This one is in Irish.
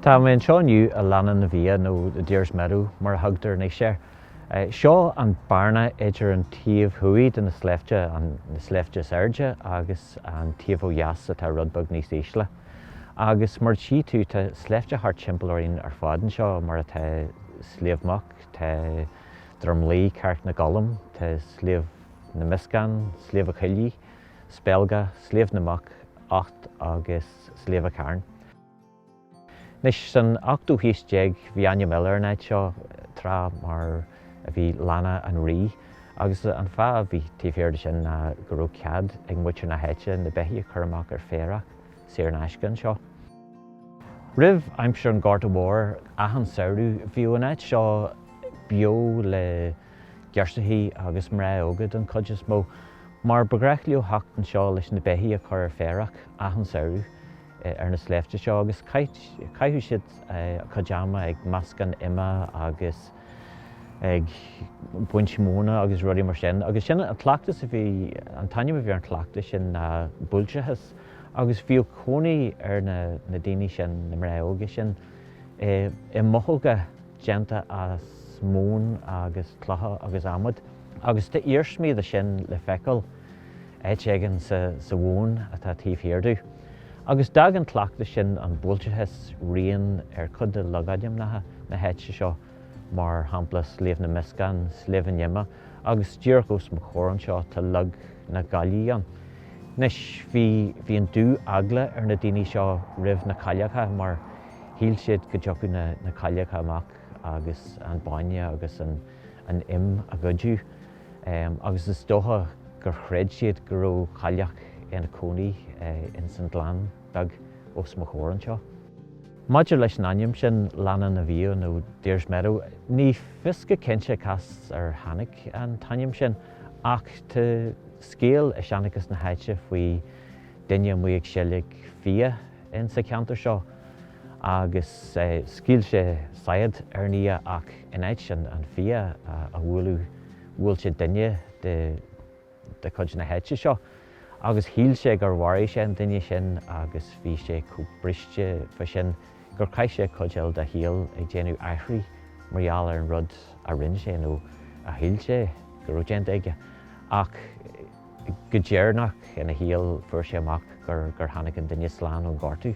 Tá mé anseo inniu i Léana na bhFia nó The Deer's Meadow mar a thugtar anois air. Seo an bearna idir an taobh thuaidh de na sléibhte, na sléibhte is airde, agus an taobh ó dheas atá rud beag níos ísle. Agus mar a tchí tú tá sléibhte thart timpeall orainn ar fad anseo mar atá Sliabh Muc, tá. Droim Lao, Carraig na gColm, tá Sliabh na Meascán, Sliabh an Choiligh, Spelga, Sliabh na Muc, Ucht agus Sliabh an Chairn. Anois, san ochtú haois déag bhí ainm eile ar an áit seo tráth mar a bhí Léana an Rí agus an fáth a bhí taobh thiar de sin ná go raibh cead ag muintir na háite na beithígh a chur amach ar féarach saor in aisce anseo. Roimh aimsir an Ghorta Mhóir, achan samhradh, bhíodh an áit seo beo le girseachaí agus mná óga don chuid is mó, mar ba ghnách leo theacht anseo leis na beithígh a chur ar féarach achan samhradh ar na sléibhte seo agus chaitheadh siad a gcuid ama ag meascán ime agus ag baint móna agus rudaí mar sin. Agus sin an cleachtas a bhí, an t-ainm a bhí ar an chleachtas sin ná buailteachas. agus bhíodh cónaí ar na na daoine sin, na mná óga sin, i i mbothóga déanta as móin agus clocha agus adhmad, agus tá iarsmaí de sin le feiceáil áit éigin sa sa mhóin atá taobh thiar domh. Agus d'fhág an cleachtas sin an buailteachas rian ar chuid de logainmneacha na háite seo. mar shampla Sliabh na Meascán, Sliabh an Ime, agus díreach os mo chomhair anseo tá Log na gCaillí ann. Anois, bhí, bhí an dú-eagla ar na daoine seo roimh na cailleacha mar shíl siad go dtiocfadh na, na cailleacha amach agus an bainne agus an, an im a ghoideadh. Em, agus is dócha gur chreid siad go raibh cailleach ina cónaí ins an ghleann beag os mo chomhair anseo. Maidir leis an ainm sin, Léana na bhFia nó Deer's Meadow, ní fios go cinnte cá as ar tháinig an t-ainm sin, ach tá scéal i seanchas na háite faoi duine amuigh ag seilg fia insa cheantar seo agus scaoil sé saighead ar an fhia ach in áit an fia a bhualadh, bhuail sé duine de. de chuid na háite seo agus shíl sé gur mharaigh sé an duine sin agus bhí sé chomh briste fá sin gur chaith sé cuid eile dá shaol ag déanamh aithrí mar gheall ar an rud a rinne sé nó a shíl sé go raibh déanta aige ach go deireanach ina shaol fuair sé amach gur tháinig an duine slán ón ghortú.